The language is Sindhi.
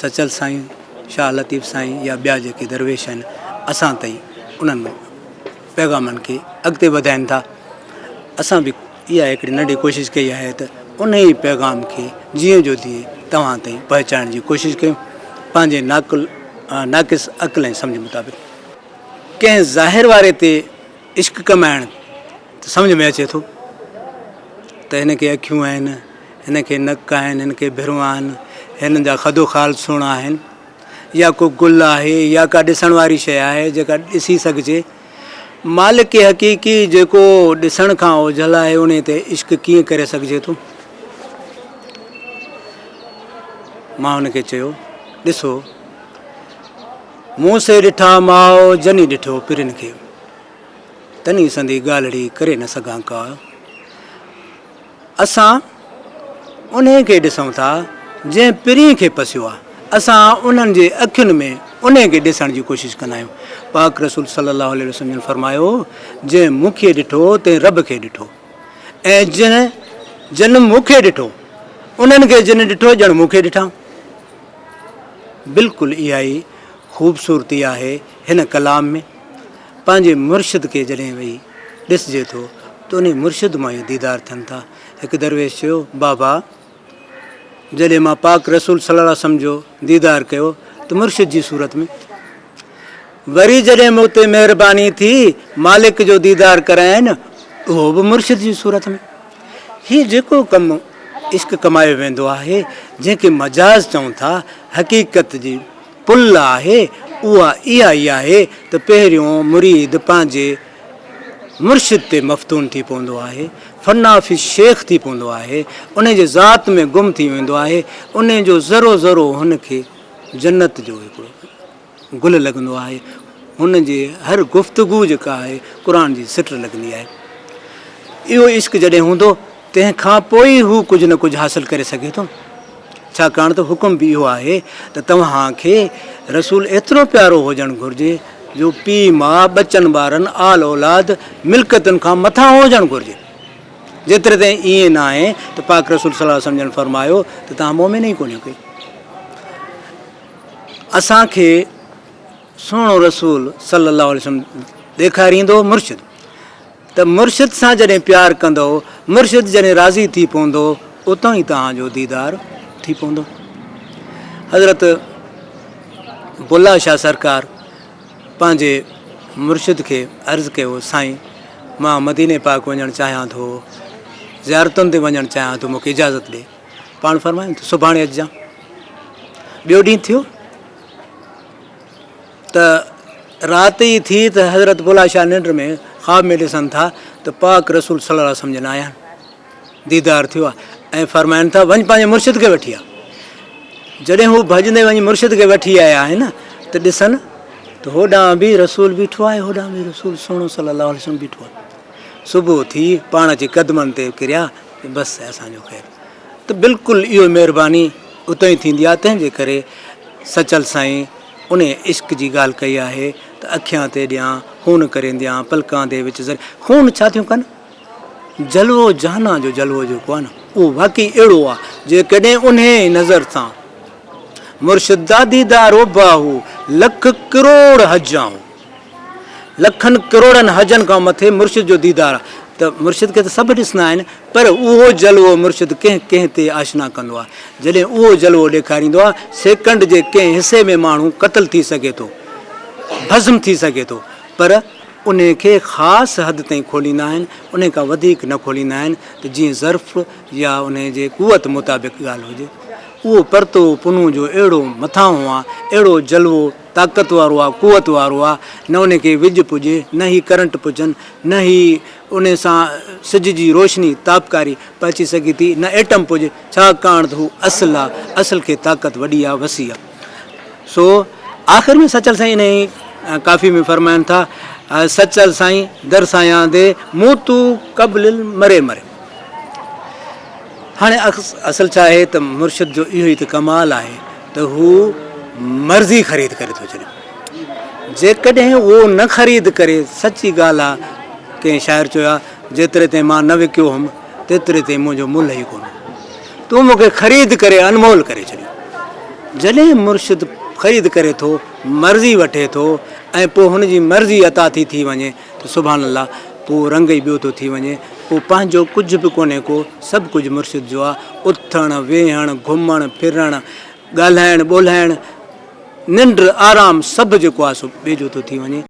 سچل سائين، شاهه لطيف سائين يا ٻيا جيڪي درويش آهن اسان تائين انهن پيغامن کي اڳتي وڌائين ٿا اسان به اها هڪڙي ننڍي ڪوشش ڪئي آهي ته انهي پيغام کي جيئن جو تيئن توهان تائين پهچائڻ جي ڪوشش ڪيون پنهنجي ناقل ناقص عقل ۽ سمجهه مطابق ڪنهن ظاهر واري تي عشق ڪمائڻ سمجهه ۾ اچي ٿو ته هن کي اکيون آهن هن کي نڪ آهن، هن کي ڀرون آهن، هنن جا خد و خال سهڻا آهن، يا ڪو گل آهي يا ڪا ڏسڻ واري شيء آهي جيڪا ڏسي سگهجي. مالڪ حقيقي جيڪو ڏسڻ کان اوجهل آهي انهيء تي عشق ڪيئن ڪري سگهجي ٿو؟ مان هن کي چيو، ڏسو! مون سي ڏٺا ماء جني ڏٺو پرين کي، تني سندي ڳالهڙي ڪري نه سگهان ڪا. اسان انهي کي ڏسون ٿا جنهن پرينء کي پسيو آهي، اسان انهن جي اکين ۾ انهي کي ڏسڻ جي ڪوشش ڪندا آهيون، پاڪ رسول صلّي اللّٰه عليه وسلّم جن فرمايو، جنهن مون کي ڏٺو تنهن ربّ کي ڏٺو ۽ جنهن جن مون کي ڏٺو انهن کي جن ڏٺو ڄڻ مون کي ڏٺائون. بلڪل اها ئي خوبصورتي آهي هن ڪلام ۾. پنهنجي مرشد کي جڏهن ويهي ڏسجي ٿو ته انهي مرشد مان ئي ديدار ٿين ٿا. هڪ درويش چيو، بابا! جڏهن مان پاڪ رسول صلي الله عليه وسلم جو ديدار ڪيو ته مرشد جي صورت ۾، وري جڏهن مون تي مهرباني ٿي مالڪ جو ديدار ڪرايائين اهو به مرشد جي صورت ۾. هي جيڪو ڪم عشق ڪمايو ويندو آهي، جنهن کي مجاز چئون ٿا، حقيقت جي پل آهي اها اها ئي آهي ته پهريون مريد پنهنجي مرشد تي مفتون ٿي پوندو آهي، فنا في الشيخ ٿي پوندو آهي، انهي جي ذات ۾ گم ٿي ويندو آهي، انهي جو ذرو ذرو هن کي جنت جو هڪڙو گل لڳندو آهي، هن جي هر گفتگو جيڪا آهي قرآن جي سٽ لڳندي آهي. اهو عشق جڏهن هوندو تنهن کان پوء ئي هو ڪجهه نه ڪجهه حاصل ڪري سگهي ٿو، ڇاڪاڻ ته حڪم به اهو آهي ته توهان کي رسول ايترو پيارو هجڻ گهرجي جو پيء ماء، ٻچن ٻارن، آل اولاد، ملڪيتن کان مٿانهون هجڻ گهرجي. جيتري تائين ائين ناهي ته پاڪ رسول صلي وسلم جن فرمايو ته توهان مؤمن ئي ڪونهيو ڪي. اسان کي سهڻو رسول صلي الله عليه وسلم ڏيکاريندو مرشد. ته مرشد سان جڏهن پيار ڪندؤ، مرشد جڏهن راضي ٿي پوندو، اتان ئي توهان جو ديدار ٿي پوندو. حضرت بلا شاهه سرڪار پنهنجي مرشد کي عرض ڪيو، سائين! مان مديني پاڪ وڃڻ چاهيان ٿو، زيارتن تي وڃڻ چاهيان ٿو، مون کي اجازت ڏي. پاڻ فرمايائين ته سڀاڻي اچجان. ٻيو ڏينهن ٿيو. ته رات ئي ٿي ته حضرت بلا شاهه ننڊ ۾ خواب ۾ ڏسن ٿا ته پاڪ رسول صلي الله عليه وسلم جن آيا آهن ديدار ٿيو آهي ۽ فرمائن ٿا وڃ پنهنجي مرشد کي وٺي آ جڏهن هو ڀڄندي وڃي مرشد کي وٺي آيا آهن ته ڏسن ته هوڏانهن به رسول بيٺو آهي هوڏانهن به رسول سهڻو صلي الله عليه وسلم بيٺو آهي صبح ٿي پاڻ جي قدمن تي ڪريا بس اسانجو خير ته بلڪل اهو مهرباني اتهين ٿيندي آهي تنهنجي ڪري سچل سائين انهيء عشق جي ڳالهه ڪئي آهي ته اکيان تي ڏيان، خون ڪرينديان، پلڪان دي وچ زري، خون ڇا ٿيون ڪن؟ جلوو جهانا جو جلوو جيڪو آهي نه، اهو واقعي اهڙو آهي، جيڪڏهن انهيء نظر سان مرشد دادي دارو باهو لک ڪروڙ حجيان هو. لکن ڪروڙن حجن کان مٿي مرشد جو ديدار آ ته مرشد کي ته سڀ ڏسندا آهن پر اهو جلوو مرشد ڪنهن ڪنهن تي آشنا ڪندو آ جڏهن اهو جلوو ڏيکاريندو آ سيڪنڊ جي ڪنهن حصي ۾ ماڻهو قتل ٿي سگهي ٿو ڀسم ٿي سگهي ٿو پر انهي کي خاص حد تائين کوليندا آهن انهي کان وڌيڪ نه کوليندا آهن ته جيئن ظرف يا انهي جي قوت مطابق ڳالهه هجي اهو پرتو پنهون جو اهڙو مٿانهون آ اهڙو جلوو طاقت وارو آ، قوت وارو آ، نه انهي کي ويڄ پڄي، نه هي ڪرنٽ پڄن، نه هي انهي سان سج جي روشني، تابڪاري، پهچي سگهي ٿي، نه ايٽم پڄي، ڇاڪاڻ ته هو اصل آ، اصل کي طاقت وڏي آ، وسيع آ. سو آخر ۾ سچل سائين انهي ڪافي ۾ فرمائن ٿا، سچل سائين در سايان دي، موتو قبل المري مري. هاڻي اصل ڇا آهي ته مرشد جو اهو ئي ته ڪمال آهي ته هو مرضي خريد ڪري ٿو ڇڏي جيڪڏهن اهو نه خريد ڪري سچي ڳالهه آهي ڪنهن شاعر چيو آهي جيتري تائين مان نه وڪيو هوم تيتري تائين منهنجو ملهه ئي ڪونه تون مون کي خريد ڪري انمول ڪري ڇڏيو جڏهن مرشد خريد ڪري ٿو مرضي وٺي ٿو ۽ پوء هن جي مرضي عطا ٿي ٿي وڃي ته سبحان الله پوء رنگ ئي ٻيو ٿو ٿي وڃي، پوء پنهنجو ڪجهه به ڪونهي ڪو، سڀ ڪجهه مرشد جو آ، اٿڻ، ويهڻ، گهمڻ، ڦرڻ، ڳالهائڻ، ٻولهائڻ، ننڊ، آرام سڀ جيڪو آ سو ٻئي جو ٿو ٿي وڃي.